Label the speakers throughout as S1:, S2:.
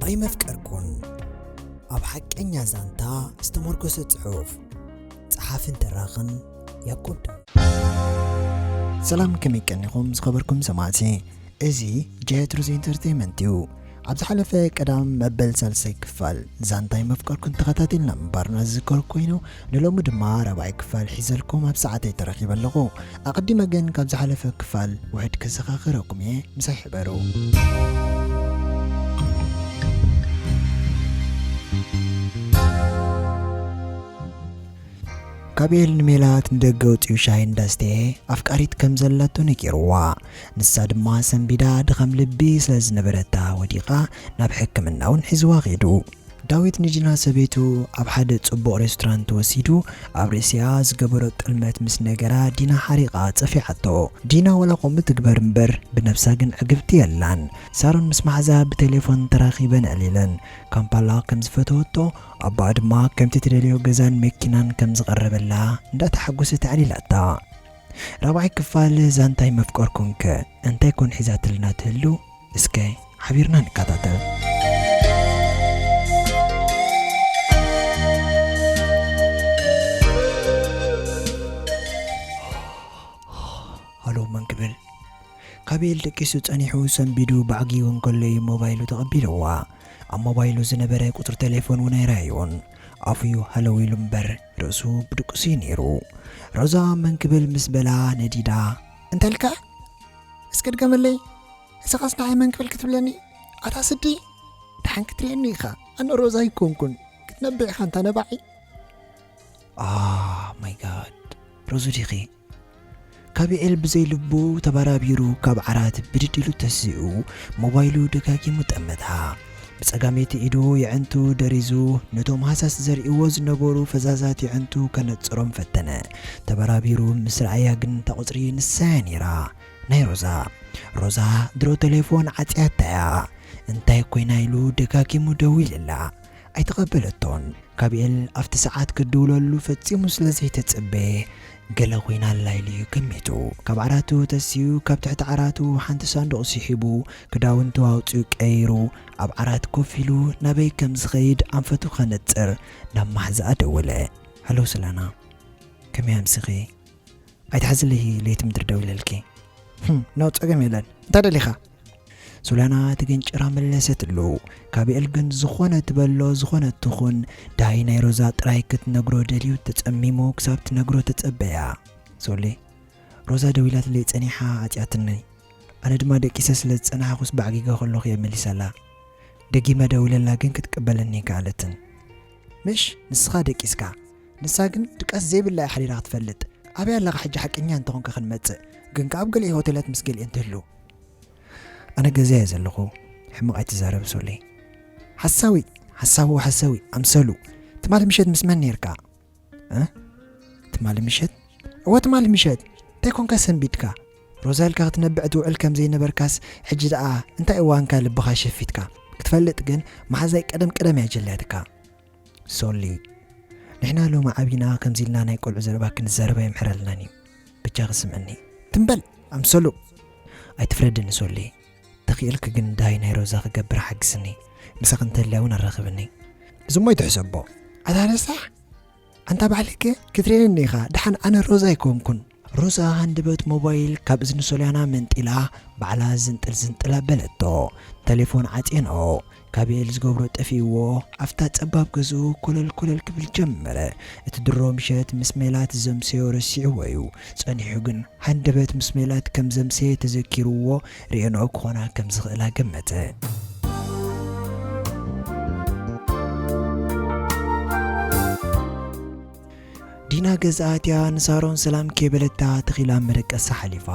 S1: ኣይመፍቀርኩን ኣብ ሓቀኛ ዛንታ ዝተመርኮሰ ጽሑፍ ጸሓፍን ተራኽን ያቆብ ሰላም ከመይ ቀኒኹም ዝኸበርኩም ሰማዕቲ እዚ ጀትሩዝ ኢንተርተይመንት እዩ። ኣብ ዝሓለፈ ቀዳም መበል ሳልሳይ ክፋል ዛንታ ኣይመፍቀርኩን ተኸታቲልና ምንባርና ዝዝከር ኮይኑ ንሎሚ ድማ ራብዓይ ክፋል ሒዘልኩም ኣብ ሰዓተይ ተረኺበ ኣለኹ። ኣቐዲመ ግን ካብ ዝሓለፈ ክፋል ውሕድ ከዘኻኽረኩም እየ ምሳይ ሕበሩ። ካብ ኤል ንሜላት ንደገ ውፅኡ ሻሂ እንዳስተየ ኣፍቃሪት ከም ዘላቶ ነጊርዋ። ንሳ ድማ ሰንቢዳ ድኸም ልቢ ስለ ዝነበረታ ወዲቓ ናብ ሕክምና ውን ሒዝዋ ከይዱ። ዳዊት ንጅና ሰበይቱ ኣብ ሓደ ጽቡቕ ሬስቶራንት ወሲዱ ኣብ ርእሲኣ ዝገበሮ ጥልመት ምስ ነገራ ዲና ሓሪቓ ጸፊዓቶ። ዲና ዋላ ከምኡ ትግበር እምበር ብነብሳ ግን ዕግብቲ የላን። ሳሮን ምስ ማሓዛ ብቴሌፎን ተራኺበን ኣዕሊለን። ካምፓላ ከም ዝፈተወቶ ኣቦኣ ድማ ከምቲ ትደልዮ ገዛን መኪናን ከም ዝቐረበላ እንዳተሓጎሰት ኣዕሊላታ። ራብዓይ ክፋል ዛንታ ኣይመፍቀርኩን ከ እንታይ ኮን ሒዛትልና ትህሉ እስከ ሓቢርና ንካታተል። ሃሎ መን ክብል ካበኤል ደቂሱ ጸኒሑ ሰንቢዱ ባዕጊጉ እንከሎ እዩ ሞባይሉ ተቐቢልዋ ኣብ ሞባይሉ ዝነበረ ቁጽሪ ቴሌፎን እውን ኣይረኣዮን ኣፉዩ ሃለው ኢሉ እምበር ርእሱ ብድቁስ'ዩ ነይሩ። ሮዛ መን ክብል ምስ በላ ነዲዳ። እንታይ ኢልካ? እስከ ድገመለይ። እዚኸስ ንዓይ መን ክብል ክትብለኒ? ኣታ ስዲ! ደሓን ክትርእየኒ ኢኻ። ኣነ ሮዛ ኣይኮንኩን። ክትነብዕ ኢኻ ኣንታ ነባዒ። ኦህ ማይ ጋድ! ሮዙ ዲኺ? ካቢዔል ብዘይ ልቡ ተባራቢሩ ካብ ዓራት ብድድ ኢሉ ተሲኡ ሞባይሉ ደጋጊሙ ጠመታ። ብጸጋመይቲ ኢዱ የዕንቱ ደሪዙ ነቶም ሃሳስ ዘሪእዎ ዝነበሩ ፈዛዛት የዕንቱ ከነጽሮም ፈተነ። ተባራቢሩ ምስ ረኣያ ግን እታ ቁጽሪ ንሳ'ያ ነይራ። ናይ ሮዛ። ሮዛ ድሮ ተሌፎን ዓጽያታ'ያ። እንታይ ኮይና ኢሉ ደጋጊሙ ደዊልላ። ኣይተቐበለቶን። ጋብኤል ኣብቲ ሰዓት ክትድውለሉ ፈጺሙ ስለ ዘይተጸበየ ገለ ኮይና ኣላ ኢሉ እዩ ገሚቱ። ካብ ዓራቱ ተሲኡ ካብ ትሕቲ ዓራቱ ሓንቲ ሳንዱቕ ስሒቡ ክዳውንቱ ኣውጺኡ ቀይሩ ኣብ ዓራት ኮፍ ኢሉ ናበይ ከም ዝኸይድ ኣንፈቱ ከነጽር ናብ ማሕዛኣ ደወለ። ሃሎ ስለና ከመይ ኣምሲኺ? ኣይትሓዝለይ ለይቲ ምድሪ ደዊለልኪ። ኖ ጸገም የለን። እንታይ ደሊኻ? ሱላና ትግንጭራ መለሰትሉ። ካቢኤል ግን ዝኾነ ትበሎ ዝኾነ ትኹን ዳይ ናይ ሮዛ ጥራይ ክትነግሮ ደልዩ ተጸሚሙ ክሳብ ትነግሮ ተጸበያ። ሶሌ ሮዛ ደዊላትለይ ጸኒሓ ዓጽያትኒ ኣነ ድማ ደቂሰ ስለ ዝጸናሕኩስ ባዕጊገ ከለኹ እየ መሊሰላ። ደጊመ ደዊለላ ግን ክትቅበለኒ ኣይከኣለትን። ምሽ ንስኻ ደቂስካ ንሳ ግን ድቃስ ዘይብላ እያ ሓዲራ ክትፈልጥ። ኣበይ ኣለኻ ሕጂ ሓቀኛ እንተኾንካ ክንመጽእ ግን ከኣ ኣብ ገሊኤ ሆቴላት ምስ ገሊኤን ትህሉ። ኣነ ገዛ እየ ዘለኹ ሕማቕ ኣይትዛረብ ሶሊ። ሓሳዊ ሓሳዊ ሓሳዊ ኣምሰሉ ትማሊ ምሸት ምስ መን ነርካ ትማሊ ምሸት እወ ትማሊ ምሸት እንታይ ኮንካ ሰንቢድካ ሮዛ ኢልካ ክትነብዕ ትውዕል ከም ዘይነበርካስ ሕጂ ደኣ እንታይ እዋንካ ልብኻ ሸፊትካ ክትፈልጥ ግን መሓዛይ ቀደም ቀደም እያ ጀልያትካ ሶሊ ንሕና ሎሚ ዓቢና ከምዚ ኢልና ናይ ቆልዑ ዘረባ ክንዛረብ ኣየምሕረልናን እዩ ብጃኺ ስምዕኒ ትም በል ኣምሰሉ ኣይትፍረድኒ ሶሊ ተኽኢልኪ ግን እንታይ ናይ ሮዛ ክገብር ሓግስኒ ምሳኺ እንተልያ እውን ኣራኽብኒ እዚ እሞ ኣይትሕሰቦ ኣታ ረሳሕ ኣንታ ባዕልከ ክትርእየኒ ኢኻ ደሓን ኣነ ሮዛ ኣይኮንኩን ሮዛ ሃንደበት ሞባይል ካብ እዝኒ ሶልያና መንጢላ ባዕላ ዝንጥል ዝንጥል ኣበለቶ። ተሌፎን ዓጽየንኦ። ካቤል ዝገብሮ ጠፊእዎ ኣፍታ ጸባብ ገዝኡ ኮለል ኮለል ክብል ጀመረ። እቲ ድሮ ምሸት ምስ ሜላት ዘምሰዮ ረሲዕዎ'ዩ። ጸኒሑ ግን ሃንደበት ምስ ሜላት ከም ዘምሰየ ተዘኪርዎ ርኤንኦ ክኾና ከም ዝኽእላ ገመተ። ዲና ገዛ ኣትያ ንሳሮን ሰላም ከይበለታ ተኺላ ኣብ መደቀሳ ሓሊፋ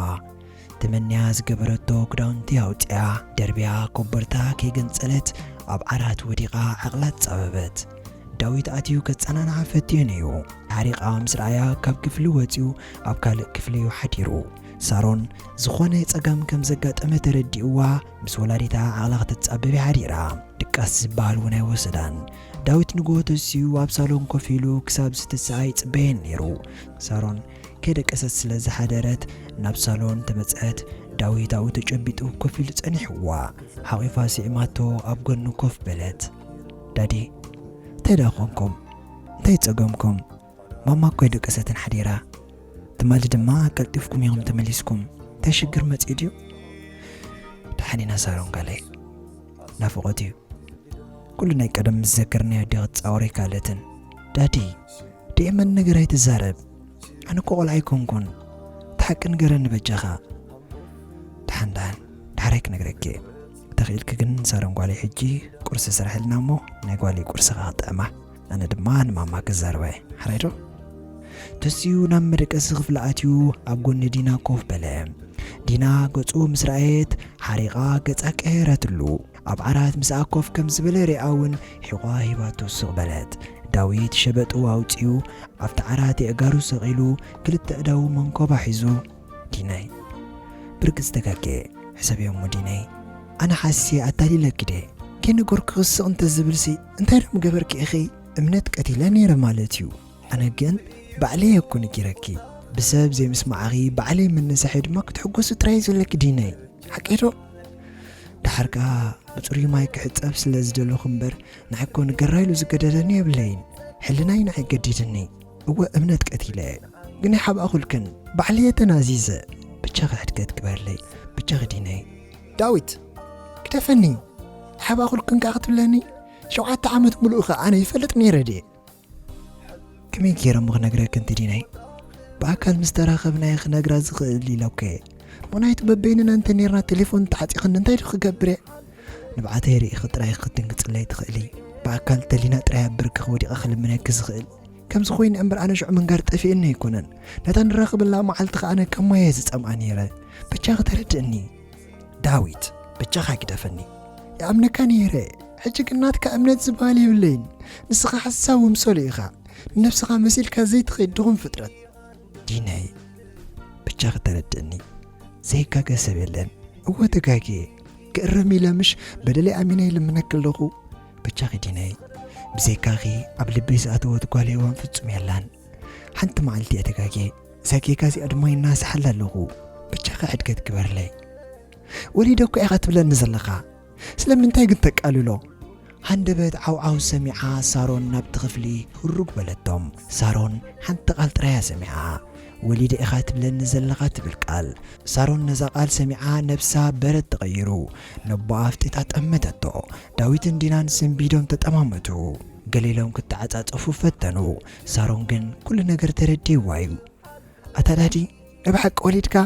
S1: ተመንያ ዝገበረቶ ክዳውንቲ ኣውጺኣ ደርብያ ኮቦርታ ከይገንጸለት ኣብ ዓራት ወዲቓ ዓቕላ ተጻበበት። ዳዊት ኣትዩ ከጸናንዓ ፈትዩ ነዩ ሓሪቓ ምስ ረኣያ ካብ ክፍሊ ወጺኡ ኣብ ካልእ ክፍሊ እዩ ሓዲሩ። ሳሮን ዝኾነ ጸገም ከም ዘጋጠመ ተረዲእዋ ምስ ወላዲታ ዓቕላ ክትጻበብ እያ ሓዲራ። ድቃስ ዝበሃል እውን ኣይወሰዳን። ዳዊት ንግሆ ተሲኡ ኣብ ሳሎን ኮፍ ኢሉ ክሳብ ዝትስኣ ይጽበየን ነይሩ። ሳሮን ከይደቀሰት ስለ ዝሓደረት ናብ ሳሎን ተመጽኣት። ዳዊት ኣብኡ ተጨቢጡ ኮፍ ኢሉ ጸኒሕዋ። ሓቒፋ ስዒማቶ ኣብ ጎኑ ኮፍ በለት። ዳዲ እንታይ ደኣ ኰንኩም? እንታይ ጸገምኩም? ማማ እኮ ኣይደቀሰትን ሓዲራ ትማሊ ድማ ቀልጢፍኩም ኢኹም ተመሊስኩም እንታይ ሽግር መፅኡ ድዩ ደሓን ኢና ሳሮን ጋለይ ናፍቆት እዩ ኩሉ ናይ ቀደም ምስ ዘከርናዮ ዲ ክትፃወር ኣይካለትን ዳዲ ደየመን ነገር ኣይትዛረብ ኣነ እኮ ቆልዓ ኣይኮንኩን ተሓቂ ንገረኒ በጃኻ ደሓን ደሓን ዳሕራይ ክነግረኪ እየ ተኽኢልኪ ግን ሳሮን ጓለይ ሕጂ ቁርሲ ስራሕልና እሞ ናይ ጓለይ ቁርሲ ክጥዕማ ኣነ ድማ ንማማ ክዛረባ እየ ሓራይ ዶ ተሲኡ ናብ መደቀሲ ክፍሊ ኣትዩ ኣብ ጎኒ ዲና ኮፍ በለ ዲና ገጹ ምስ ረኣየት ሓሪቓ ገጻ ቀየረትሉ ኣብ ዓራት ምስኣ ኮፍ ከም ዝበለ ሪኣ እውን ሒቋ ሂባቶ ስቕ በለት ዳዊት ሸበጡ ኣውፅኡ ኣብቲ ዓራት የእጋሩ ሰቒሉ ክልተ እዳዉ መንኮባ ሒዙ ዲናይ፣ ብርግጽ ተጋጌ ሕሰብዮ እሞ ዲነይ። ኣነ ሓሲየ ኣታሊለኪ ድየ ከይነገርኩ ክስቕ እንተ ዝብልሲ እንታይ ዶ ምገበርኪ ኢኺ እምነት ቀቲለ ነይረ ማለት እዩ ኣነ ግን ባዕለይ እኮ ነጊረኪ ብሰብ ዘይምስማዕኺ ባዕለይ ምንሳሐይ ድማ ክትሕጎሲ ጥራይ ዘለኪ ዲነይ ሓቀይ ዶ ድሓር ከኣ ብጽሩይ ማይ ክሕጸብ ስለ ዝደለኹ እምበር ንዓይ እኮ ንገራ ኢሉ ዝገደደኒ የብለይን ሕልናይ ንዓይ ገዲድኒ እወ እምነት ቀቲለ ግን ኣይሓባእኹልክን ባዕልየ ተናዚዘ ብቻኺ ሕድገት ግበርለይ ብቻኺ ዲነይ ዳዊት ግደፈኒ ኣይሓባእኹልክን ከኣ ክትብለኒ ሸውዓተ ዓመት ምሉእ ከ ኣነ ይፈልጥ ነይረ ድየ ከመይ ገይረ እሞ ክነግረክን ትዲነይ ብኣካል ምስ ተራኸብናየ ክነግራ ዝኽእል ኢለኩ እየ ምክንያቱ በበይንና እንተ ነርና ቴሌፎን ተዓፂኽኒ እንታይ ዶ ክገብር እየ ንብዓተይ ርኢኺ ጥራይ ክትድንግፅለይ ትኽእሊ ብኣካል ተሊና ጥራይ ኣብ ብርክኺ ወዲቐ ክልምነኪ ዝኽእል ከምዚ ኮይነ እምበር ኣነ ሽዑ ምንጋር ጠፊእኒ ኣይኮነን ነታ ንራኽበላ መዓልቲ ከኣ ኣነ ከም ማየ ዝጸምኣ ነይረ ብቻኺ ተረድእኒ ዳዊት ብቻኻ ግደፈኒ ይኣምነካ ነይረ ሕጂ ግን ናትካ እምነት ዝበሃል የብለይን ንስኻ ሓሳብ ወምሰሉ ኢኻ ንነብስኻ መሲልካ ዘይትኸይድ ድኹም ፍጥረት ዲነይ ብቻኺ ተረድእኒ ዘይጋገ ሰብ የለን እወ ተጋግየ ክእረም ኢለ ምሽ በደለይ ኣሚነ ይልምነክ ኣለኹ ብቻኺ ዲነይ ብዘይካኺ ኣብ ልበይ ዝኣተወት ጓል ሄዋን ፍጹም የላን ሓንቲ መዓልቲ እየ ተጋጌ ዛጌጋ እዚኣ ድማ ይናስሓላ ኣለኹ ብቻኺ ሕድገት ግበርለይ ወሊደ እኳ ኢኻ ትብለኒ ዘለኻ ስለምንታይ ግን ተቃልሎ ሃንደበት ዓውዓው ሰሚዓ ሳሮን ናብቲ ክፍሊ ህሩግ በለቶም ሳሮን ሓንቲ ቃል ጥራያ ሰሚዓ ወሊደ ኢኻ ትብለኒ ዘለኻ ትብል ቃል ሳሮን ነዛ ቃል ሰሚዓ ነብሳ በረድ ተቐይሩ ነቦኣ ኣፍጢጣ ጠመተቶ። ዳዊትን ዲናን ስንቢዶም ተጠማመቱ። ገለ ኢሎም ክተዓጻጸፉ ፈተኑ። ሳሮን ግን ኩሉ ነገር ተረዲእዋ እዩ። ኣታ ዳዲ ናይ ብሓቂ ወሊድካ?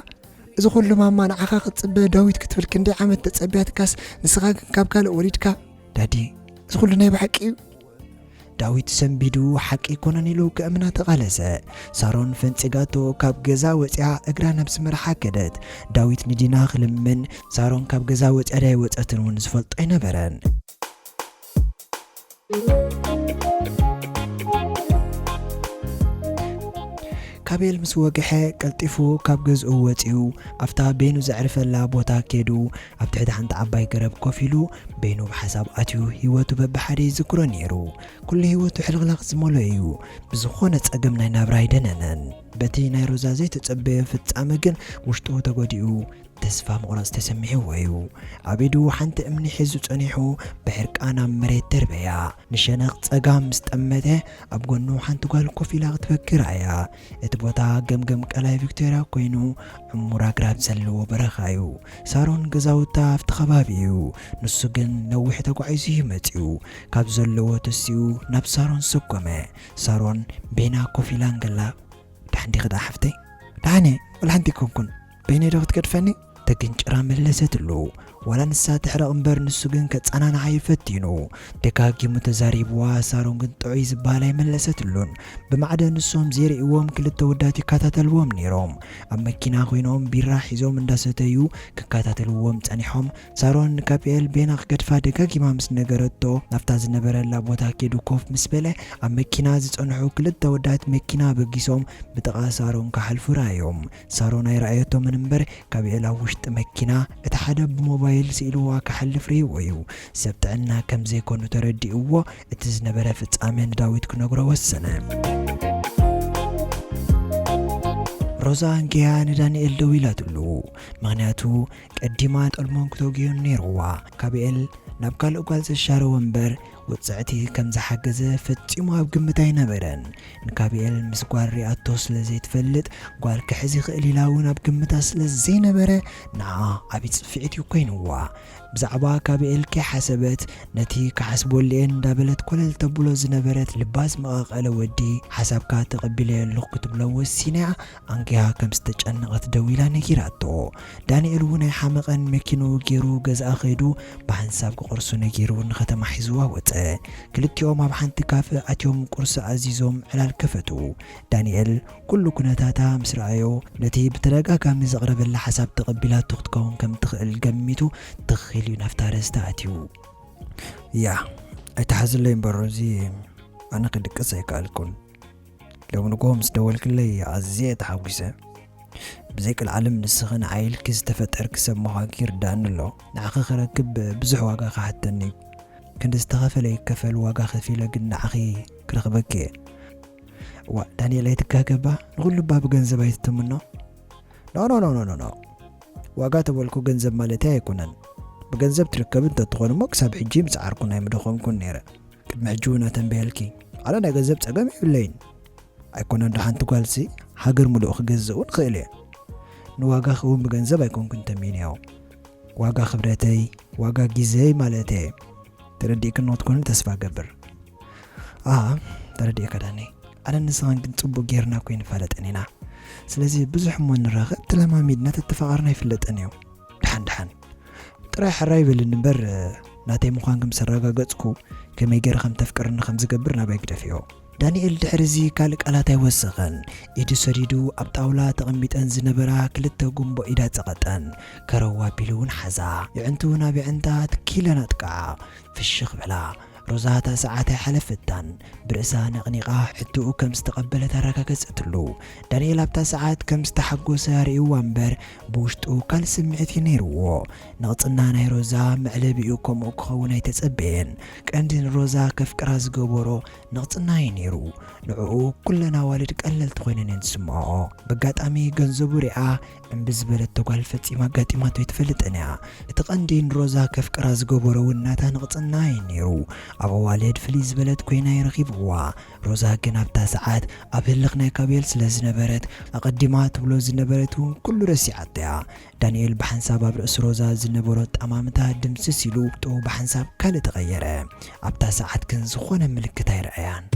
S1: እዚ ኩሉ ማማ ንዓኻ ክትጽበ ዳዊት ክትብል ክንደይ ዓመት ተጸብያትካስ ንስኻ ግን ካብ ካልእ ወሊድካ? ዳዲ እዚ ኩሉ ናይ ብሓቂ እዩ? ዳዊት ሰንቢዱ ሓቂ ኣይኮነን ኢሉ ከእምና ተቓለሰ። ሳሮን ፈንጺጋቶ ካብ ገዛ ወጺኣ እግራ ናብ ዝመርሓ ከደት። ዳዊት ንዲና ክልምን ሳሮን ካብ ገዛ ወጺኣ ድያ ኣይወጸትን እውን ዝፈልጦ ኣይነበረን። ካቤል ምስ ወግሐ ቀልጢፉ ካብ ገዝኡ ወጺኡ ኣብታ በይኑ ዘዕርፈላ ቦታ ከይዱ ኣብ ትሕቲ ሓንቲ ዓባይ ገረብ ኮፍ ኢሉ በይኑ ኣብ ሓሳብ ኣትዩ ህይወቱ በብሓደ ይዝክሮ ነይሩ። ኩሉ ህይወቱ ሕልኽላኽ ዝመልኦ እዩ። ብዝኾነ ጸገም ናይ ናብራ ኣይደነነን። በቲ ናይ ሮዛ ዘይተጸበዮ ፍጻመ ግን ውሽጡ ተጎዲኡ ተስፋ ምቑራጽ ተሰሚዕዎ እዩ። ኣብ ኢዱ ሓንቲ እምኒ ሒዙ ጸኒሑ ብሕርቃን ኣብ መሬት ደርበያ። ንሸነኽ ጸጋም ምስ ጠመተ ኣብ ጎኑ ሓንቲ ጓል ኮፍ ኢላ ክትበኪ ረኣያ። እቲ ቦታ ገምገም ቀላይ ቪክቶርያ ኮይኑ ዕሙር ኣግራብ ዘለዎ በረኻ እዩ። ሳሮን ገዛውታ ኣብቲ ከባቢ እዩ። ንሱ ግን ነዊሕ ተጓዒዙ እዩ መጺኡ። ካብ ዘለዎ ተሲኡ ናብ ሳሮን ሰጎመ። ሳሮን ቤና ኮፍ ኢላ እንከላ ደሓን ዲኺ ደኣ ሓፍተይ? ደሓን እየ ወላ ሓንቲ ኣይኮንኩን። በይነይ ዶ ክትገድፈኒ? ተግንጭራ መለሰትሉ። ዋላ ንሳ ትሕረቕ እምበር ንሱ ግን ከጸናንዓ'ዩ ፈቲኑ። ደጋጊሙ ተዛሪብዋ፣ ሳሮን ግን ጥዑይ ዝበሃል ኣይመለሰትሉን። ብማዕደ ንሶም ዘይርእይዎም ክልተ ኣወዳት ይከታተልዎም ነይሮም። ኣብ መኪና ኮይኖም ቢራ ሒዞም እንዳሰተዩ ክከታተልዎም ጸኒሖም። ሳሮን ንካፒኤል በይና ክገድፋ ደጋጊማ ምስ ነገረቶ ናብታ ዝነበረላ ቦታ ከይዱ ኮፍ ምስ በለ ኣብ መኪና ዝጸንሑ ክልተ ኣወዳት መኪና ኣበጊሶም ብጥቓ ሳሮን ክሓልፉ ረኣዮም። ሳሮን ኣይረኣየቶምን እምበር ካብ ዒላ ውሽጢ መኪና እቲ ሓደ ብሞባይል ስኢልዋ ክሓልፍ ርእይዎ እዩ። ሰብ ጥዕና ከም ዘይኮኑ ተረዲእዎ እቲ ዝነበረ ፍጻመ ንዳዊት ክነግሮ ወሰነ። ሮዛ ኣንጊሃ ንዳንኤል ደዊላትሉ ምክንያቱ ቀዲማ ጠልሞን ክተውግዮን ነይርዋ ካብ ኤል ናብ ካልእ ጓል ዘሻረወ እምበር ውጽዕቲ ከም ዝሓገዘ ፈጺሙ ኣብ ግምት ኣይነበረን። ንካብኤል ምስ ጓል ሪኣቶ ስለ ዘይትፈልጥ፣ ጓል ክሕዝ ይኽእል ኢላ እውን ኣብ ግምታ ስለ ዘይነበረ፣ ንዓኣ ዓቢ ጽፊዒት እዩ ኮይንዋ። ብዛዕባ ካብኤል ከይሓሰበት፣ ነቲ ክሓስበሉ'የ እንዳበለት ኮለል ተብሎ ዝነበረት ልባ ዝመቓቐለ ወዲ፣ ሓሳብካ ተቐቢለዮ ኣለኹ ክትብሎ ወሲና እያ ኣንቂሃ ከም ዝተጨነቐት ደዊላ ነጊራቶ። ዳኒኤል እውን ኣይሓመቐን፣ መኪንኡ ገይሩ ገዝኣ ከይዱ ብሓንሳብ ክቑርሱ ነጊሩ ንከተማ ሒዝዋ ወጸ። ክልቲኦም ኣብ ሓንቲ ካፈ ኣትዮም ቁርሲ ኣዚዞም ዕላል ከፈቱ። ዳኒኤል ኩሉ ኩነታታ ምስ ረኣዮ፣ ነቲ ብተደጋጋሚ ዘቕረበላ ሓሳብ ተቐቢላቶ ክትከውን ከም እትኽእል ገሚቱ ትኽ ኢሉ እዩ ናብታ ርእስታ ኣትዩ። ያህ ኣይትሓዝለይ እምበር እዚ ኣነ ክድቅስ ኣይከኣልኩን። ሎሚ ንግሆ ምስ ደወልክለይ ኣዝየ ተሓጒሰ። ብዘይ ቀልዓለም ንስኺ ንዓይ ኢልኪ ዝተፈጠርኪ ሰብ ምዃንኪ ይርድኣኒ ኣሎ። ንዓኺ ክረክብ ብዙሕ ዋጋ ክሓተኒ እዩ። ክንዲ ዝተኸፈለ ይከፈል ዋጋ ከፊለ ግን ንዓኺ ክረኽበኪ እየ። እዋእ ዳንኤል ኣይትጋገ እባ ንኹሉ እባ ብገንዘብ ኣይትትምኖ። ኖኖኖኖኖ ዋጋ ተበልኩ ገንዘብ ማለተይ ኣይኮነን። ብገንዘብ ትርከቢ እንተትኾን እሞ ክሳብ ሕጂ ምጽዓርኩን ኣይምደኸምኩን ነይረ። ቅድሚ ሕጂ እውን ኣተንብየልኪ ኣነ ናይ ገንዘብ ጸገም የብለይን ኣይኮነን ዶ ሓንቲ ጓልሲ ሃገር ምሉእ ክገዝእ እውን ክእል እየ ንዋጋኺ እውን ብገንዘብ ኣይኮንኩን ተሚንዮ ዋጋ ክብረተይ ዋጋ ግዜይ ማለት እየ ተረዲእክን ንክትኮንን ተስፋ ገብር ኣ ተረዲእካ ዳኒ ኣነ ንስኻን ግን ጽቡቅ ጌርና እኮ ይንፋለጠን ኢና ስለዚ ብዙሕ እሞ ንራኸብ ተለማሚድና ተተፋቐርና ይፍለጠን እዩ ድሓን ድሓን ጥራይ ሕራይ በልኒ እምበር ናተይ ምዃንኪ ምስ ኣረጋገጽኩ ከመይ ገይረ ከም ተፍቅርኒ ከም ዝገብር ናባይ ግደፍዮ። ዳንኤል ድሕሪዚ ካልእ ቃላት ኣይወሰኸን። ኢዱ ሰዲዱ ኣብ ጣውላ ተቐሚጠን ዝነበራ ክልተ ጉምቦ ኢዳ ጸቐጠን። ከረው ኣቢሉ እውን ሓዛ። የዕንትኡ ናብ የዕንታ ትኪ ኢለን ኣጥቅዓ። ፍሽኽ በላ። ሮዛ እታ ሰዓት ኣይሓለፈታን። ብርእሳ ነቕኒቓ ሕቶኡ ከም ዝተቐበለት ኣረጋገጸትሉ። ዳንኤል ኣብታ ሰዓት ከም ዝተሓጎሰ ኣርእዩዋ እምበር ብውሽጡ ካልእ ስምዒት እዩ ነይሩዎ። ንቕጽና ናይ ሮዛ መዕለቢኡ ከምኡ ክኸውን ኣይተጸበየን። ቀንዲ ንሮዛ ከፍቅራ ዝገበሮ ንቕጽና እዩ ነይሩ። ንዕኡ ኩለን ኣዋልድ ቀለልቲ ኮይነን እየን ዝስምዕኦ። በጋጣሚ ገንዘቡ ሪኣ እምቢ ዝበለቶ ጓል ፈጺማ ኣጋጢማቶ ኣይትፈልጥን እያ። እቲ ቀንዲ ንሮዛ ከፍቅራ ዝገበሮ እውን ናታ ንቕጽና እዩ ነይሩ። ኣብ ኣዋልድ ፍልይ ዝበለት ኮይና እዩ ረኺብዋ። ሮዛ ግን ኣብታ ሰዓት ኣብ ህልኽ ናይ ካቤል ስለ ዝነበረት ኣቐዲማ ትብሎ ዝነበረት እውን ኩሉ ረሲዓቶ እያ። ዳኒኤል ብሓንሳብ ኣብ ርእሲ ሮዛ ዝነበሮ ኣጠማምታ ድምስስ ኢሉ ጡቡ ብሓንሳብ ካልእ ተቐየረ። ኣብታ ሰዓት ግን ዝኾነ ምልክት ኣይረኣያን።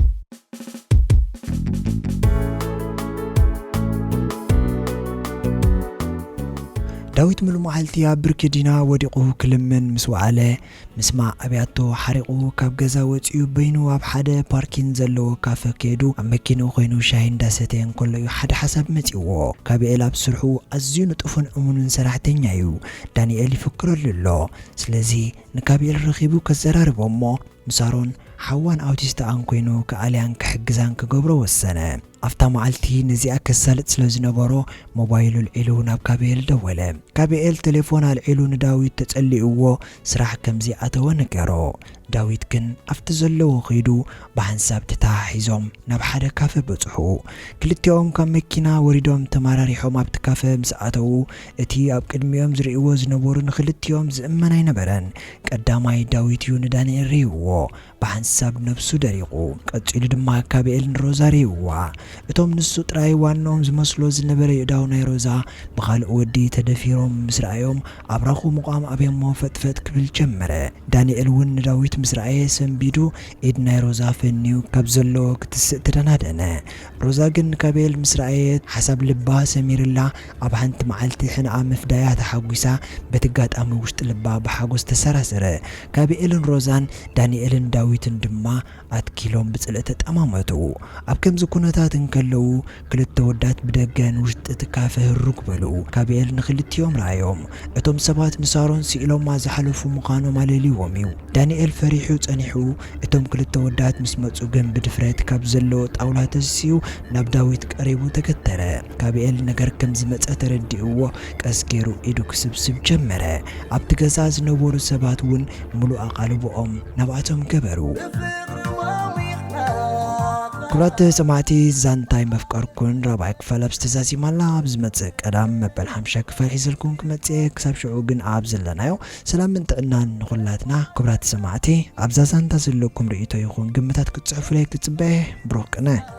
S1: ዳዊት ምሉመዓልቲ ኣብ ብርኪ ዲና ወዲቑ ክልምን ምስ ወዓለ ምስማዕ ኣብያቶ ሓሪቑ ካብ ገዛ ወፂኡ በይኑ ኣብ ሓደ ፓርኪን ዘለዎ ካፈ ከይዱ ኣብ መኪንኡ ኮይኑ ሻሂ እንዳሰተየ እንከሎ እዩ ሓደ ሓሳብ መፂዎ። ጋብኤል ኣብ ስርሑ ኣዝዩ ንጡፍን እሙንን ሰራሕተኛ እዩ። ዳኒኤል ይፍክረሉ ኣሎ። ስለዚ ንጋብኤል ረኺቡ ከዘራርቦ እሞ ንሳሮን ሓዋን ኣውቲስትኣን ኰይኑ ክኣልያን ክሕግዛን ክገብሮ ወሰነ። ኣብታ መዓልቲ ነዚኣ ከሳልጥ ስለ ዝነበሮ፣ ሞባይሉ ኣልዒሉ ናብ ጋብኤል ደወለ። ጋብኤል ተሌፎን ኣልዒሉ ንዳዊት ተጸሊኡዎ ስራሕ ከም ዘይኣተወ ነገሮ። ዳዊት ግን ኣብቲ ዘለዎ ከይዱ ብሓንሳብ ተተሓሒዞም ናብ ሓደ ካፈ በጽሑ። ክልቲኦም ካብ መኪና ወሪዶም ተመራሪሖም ኣብቲ ካፈ ምስ ኣተዉ፣ እቲ ኣብ ቅድሚኦም ዝርእይዎ ዝነበሩ ንኽልቲኦም ዝእመን ኣይነበረን። ቀዳማይ ዳዊት እዩ ንዳንኤል ርእይዎ፣ ብሓንሳብ ነብሱ ደሪቑ። ቀጺሉ ድማ ካቤኤል ንሮዛ ርእይዋ። እቶም ንሱ ጥራይ ዋንኦም ዝመስሎ ዝነበረ የእዳው ናይ ሮዛ ብኻልእ ወዲ ተደፊሮም ምስ ረኣዮም ኣብራኹ ምቛም ኣብዮሞ ፈጥፈጥ ክብል ጀመረ። ዳንኤል እውን ንዳዊት ምስ ረኣየ ሰንቢዱ ኢድ ናይ ሮዛ ፈንዩ ካብ ዘለዎ ክትስእ ተደናደነ። ሮዛ ግን ንካቤኤል ምስ ረኣየት ሓሳብ ልባ ሰሚርላ ኣብ ሓንቲ መዓልቲ ሕንኣ ምፍዳያ ተሓጒሳ በቲ ኣጋጣሚ ውሽጢ ልባ ብሓጎስ ተሰራሰረ። ጋቢኤልን ሮዛን፣ ዳኒኤልን ዳዊትን ድማ ኣትኪሎም ብጽልኢ ተጠማመቱ። ኣብ ከምዚ ኩነታት እንከለዉ ክልተ ወዳት ብደገ ንውሽጢ እቲ ካፈ ህርግ በሉ። ጋቢኤል ንክልቲኦም ረኣዮም። እቶም ሰባት ንሳሮን ስኢሎማ ዝሓለፉ ምዃኖም ኣለልይዎም እዩ። ዳኒኤል ፈሪሑ ጸኒሑ እቶም ክልተ ወዳት ምስ መጹ ግን ብድፍረት ካብ ዘለዎ ጣውላ ተሲኡ ናብ ዳዊት ቀሪቡ ተገተረ። ጋብኤል ነገር ከም ዝመጸ ተረዲእዎ ቀስ ጌሩ ኢዱ ክስብስብ ጀመረ። ኣብቲ ገዛ ዝነበሩ ሰባት እውን ምሉእ ኣቓልቦኦም ናብኣቶም ገበሩ። ብፍቕሩ ሞዊቕና ክቡራት ሰማዕቲ ዛንታ ኣይመፍቀርኩን ራብዓይ ክፋል ኣብዚ ተዛዚማ ኣላ ኣብ ዝመጽእ ቀዳም መበል ሓምሻይ ክፋል ሒዘልኩም ክመጽእ እየ ክሳብ ሽዑ ግን ኣብ ዘለናዮ ሰላምን ጥዕናን ንኹላትና ክቡራት ሰማዕቲ ኣብዛ ዛንታ ዘለኩም ርእይቶ ይኹን ግምታት ክትጽሕፉለይ ክጽበ እየ ብሩኽ ቅነ